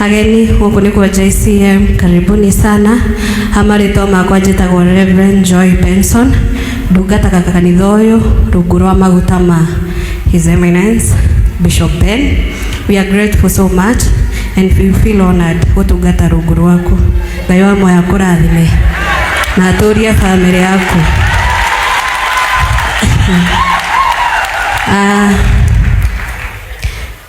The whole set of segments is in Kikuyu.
Ageni gũkũ nĩ kwa JCM, karibuni sana. Amarĩtwa makwa njĩtagwo Reverend Joy Benson, ndungataga kanitha ũyũ rungu rwa maguta ma His Eminence Bishop Ben. We are grateful so much and we feel honored gũtungata rungu rwaku. Ngai wa moya kũrathime na atũrie family yaku. Ah,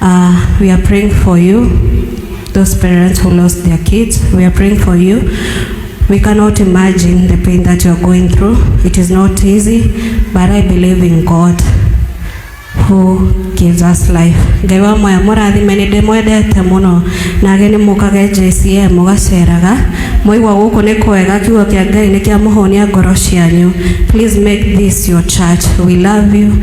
Uh, we are praying for you, those parents who lost their kids. We are praying for you. We cannot imagine the pain that you're going through. It is not easy, but I believe in God who gives us life. Ngai wa moya mũrathime nĩ ndĩmwendete mũno nage nĩ mũkage JCM mũgaceraga mwaigua gũkũ nĩ kwega kiugo kĩa Ngai nĩ kĩa mũhũnia ngoro cianyu. Please make this your church. We love you.